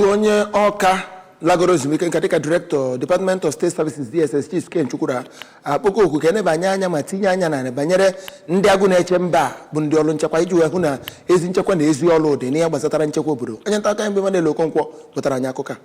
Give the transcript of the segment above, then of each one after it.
bụ onye Awka lagoro ezumike nka dịka direktọ department of state services dss chief ken chukwura akpọgo oku ka e nebanye anya ma tinye anya n'ihe banyere ndị agụ na-eche mba a bụ ndị ọrụ nchekwa iji wee hụ na ezi nchekwa na ezi ọrụ dị n'ihe gbasatara nchekwa obodo onye nta akụkọ anyị bụ Emmanuel Okonkwo wetara anyị akụkọ a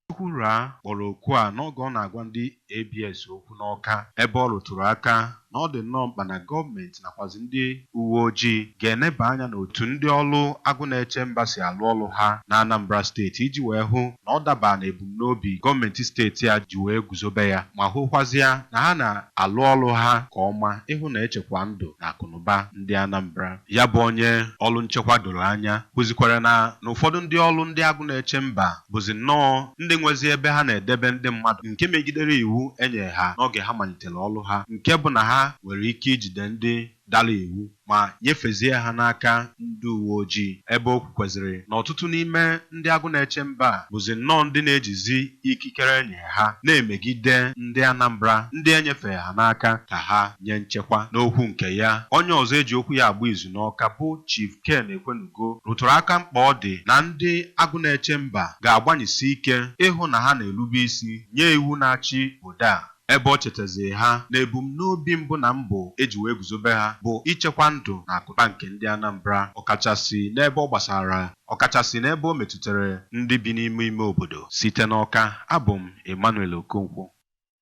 Chukwura kpọrọ oku a n'oge ọ na-agwa ndị ABS okwu n'Awka ebe ọ rụtụrụ aka na ọ dị nnọọ mkpa na gọọmenti nakwazị ndị uweojii ga-eneba anya n'otu ndị ọrụ agụ na-eche mba si arụ ọrụ ha n'Anambra steeti iji wee hụ na ọ dabaa n'ebumnobi gọọmenti steeti a ji wee guzobe ya ma hụkwazịa na ha na-arụ ọrụ ha nke ọma ịhụ na e chekwaa ndụ na akụnụba ndị Anambra. Ya bụ onye ọrụ nchekwa doro anya kwuzikwara na na ụfọdụ ndị ọrụ ndị agụ na-eche mba bụzi nnọọ ndị nwezi ebe ha na-edebe ndị mmadụ nke megidere iwu e nyere ha n'oge ha malitere ọrụ ha nke bụ na ha nwere ike ijide ndị dara iwu ma nyefezie ha n'aka ndị uweojii ebe o kwukweziri na ọtụtụ n'ime ndị agụ na-eche mba a bụzi nnọọ ndị na-ejizi ikikere e nyere ha na-emegide ndị Anambra ndị e nyefere ha n'aka ka ha nye nchekwa. N'okwu nke ya, onye ọzọ e ji okwu ya agba izu n'Awka bụ Chief Ken Ekwenu go rụtụrụ aka mkpa ọ dị na ndị agụ na-eche mba ga-agbanyesi ike ịhụ na ha na-erube isi nye iwu na-achị obodo a, ebe o chetaziri ha na ebumnobi mbụ na mbụ e ji wee guzobe ha bụ ichekwa ndụ na akụba nke ndị Anambra ọkachasi n'ebe ọ gbasara ọkachasi n'ebe o metutere ndị bi n'ime ime obodo. Site n'Awka, abụ m Emmanuel Okonkwo.